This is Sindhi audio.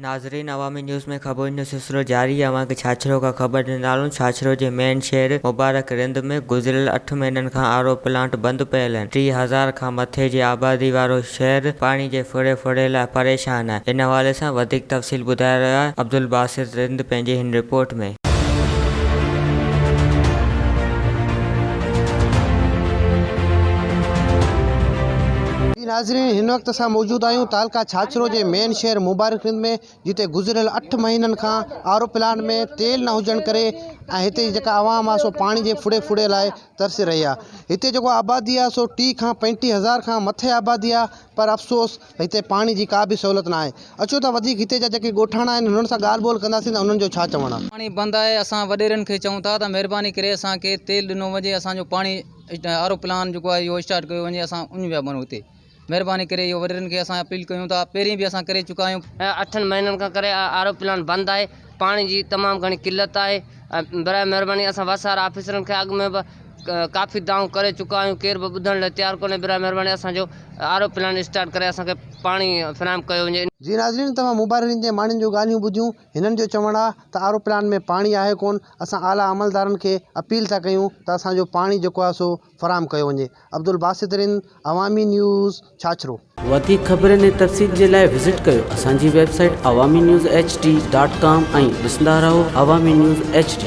ناظرين عوامي نيوز ۾ خبرن جو سلسلو جاري آهي اوهان کي ڇاڇرو کان خبر ڏيندارون ڇاڇرو جي مين شهر مبارڪ رند ۾ گذريل اٺ مهينن کان آر او پلانٽ بند پيل آهن ٽي هزار کان مٿي جي آبادي وارو شهر پاڻي جي ڦڙي ڦڙي لاء پريشان آهي ان حوالي سان وڌيڪ تفصيل ٻڌائي رهيو آهي عبدالباسط رند پنهنجي هن رپورٽ ۾ جي ناظرين هن وقت اسان موجود آهيون تعلقه ڇاڇرو جي مين شهر مبارڪ سنڌ ۾ جتي گذريل اٺ مهينن کان آر او پلانٽ ۾ تيل نه هجڻ ڪري ۽ هتي جي جيڪا عوام آهي سو پاڻي جي ڦڙي ڦڙي لاء ترسي رهي آهي هتي جيڪو آبادي آهي سو ٽي کان پنجٽيهه هزار کان مٿي آبادي آهي پر افسوس هتي پاڻي جي ڪا به سهولت ناهي. اچو ته وڌيڪ هتي جا جيڪي ڳوٺاڻا آهن انهن سان ڳالهه ٻولهه ڪنداسين ته انهن جو ڇا چوڻ آهي. پاڻي بند آهي اسان وڏيرن کي چئون ٿا ته مهرباني ڪري اسان کي تيل ڏنو وڃي اسان جو پاڻي آر او پلان جيڪو آهي اهو اسٽارٽ ڪيو وڃي اسان اڃ ويا بنو هتي مهرباني ڪري اهو وڏيرن کي اسان اپيل ڪيون ٿا پهرين به اسان ڪري چڪا آهيون. اٺن مهينن کان ڪري آر او پلان بند آهي پاڻي جي تمام گهڻي قلت آهي برائي مهرباني اسان وس وارا آفيسرن کي اڳ ۾ به ڪافي دانهون ڪري چڪا آهيون ڪير به ٻڌڻ لاء تيار ڪونهي براهه مهرباني اسان جو آر او پلانٽ اسٽارٽ ڪري اسان کي پاڻي فراهم ڪيو وڃي. جي ناظرين توهان مبارين جي ماڻهن جون ڳالهيون ٻڌيون هنن جو چوڻ آ ته آر او پلانٽ ۾ پاڻي آهي ڪون اسان اعليٰ عملدارن کي اپيل ٿا ڪيون ته اسان جو پاڻي جيڪو آ سو فراهم ڪيو وڃي عبدالباسط رند عوامي نيوز ڇاڇرو. وڌيڪ خبرن ۽ تفصيل جي لاء وزٽ ڪريو اسان جي website Awami news H D dot com ۽ ڏسندا رهو عوامي نيوز ايڇ ڊي.